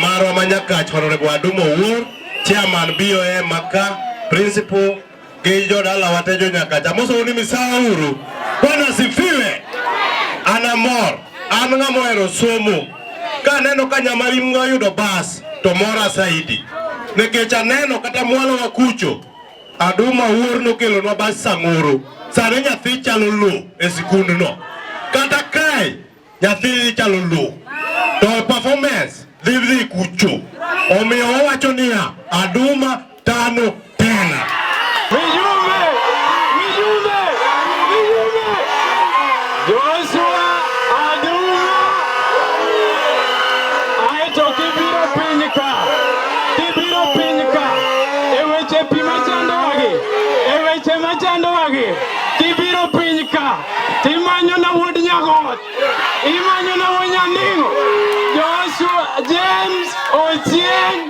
marwa ma Nyakach Honorable Adumo Owuor, chairman BOA Maka, principal gi jodala wate jo Nyakach. Amosou ni misawa uru. Bwana sifiwe. Ana mor. An ng'ama ohero somo. Ka aneno ka nyamarimgo yudo bas to mora saidi. Nikech aneno kata mwalo wa kucho Aduma wuor nokelonwa bas samoro sani nyathi chalo lo e sikundno kata kae nyathi chalo lo to performance dhi dhi kucho omiyo wawacho niya aduma tano tena Joshua Aduma aeto kibiro piny ka kibiro piny ka e weche pi machandowagi e weche machandowagi kibiro piny ka timanyona wuod nyagot imanyona wuod nyaning'o Joshua James Ochieng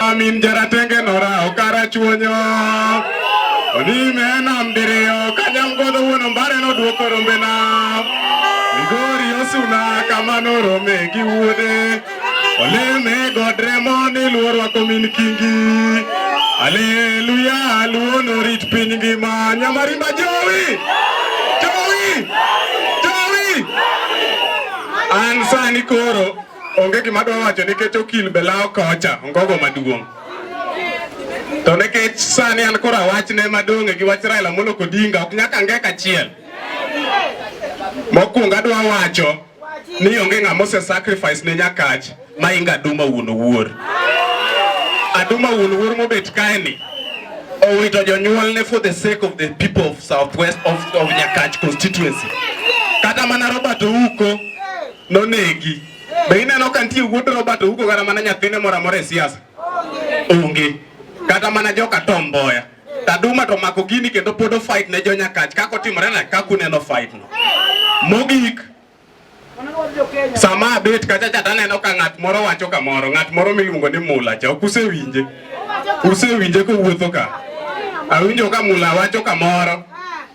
Amin jaratenge nora okara chuonyo Onime nam diriyo kanyam godo wuono mbare nodwoko rombe nam Migori osuna kamano rome gi wuode Oleme godremo ni luorwa komin kingi Aleluya luo norit piny ngima Nyamarimba jowi Jowi Jowi An sani koro Onge gima adwa wacho nikech okil be lawo kocha ongogo maduong'. To nikech sani an kora wachne madong'e gi wach Raila Amolo Odinga ok nyaka ngeka achiel. Mokwongo adwa wacho ni onge ng'ama ose sacrifice ne Nyakach ma inga Aduma wuon owuor. Aduma wuon owuor mobet kaeni owito jonyuolne for the sake of the people of southwest of, of Nyakach constituency. Kata mana Robert Ouko nonegi. Be ineno ka nitie wuod Robert Ouko kata mana nyathine moro amora e siasa? Onge. Kata mana joka Tom Mboya. Taduma to mako gini kendo pod ofight ne jo Nyakach kaka otimore na kaka uneno fight no. Mogik sama abet kacha cha taneno ka ng'at moro wacho kamoro, ng'at moro miluongo ni Mula cha ok usewinje. Usewinje kowuotho ka. Awinjo ka Mula wacho kamoro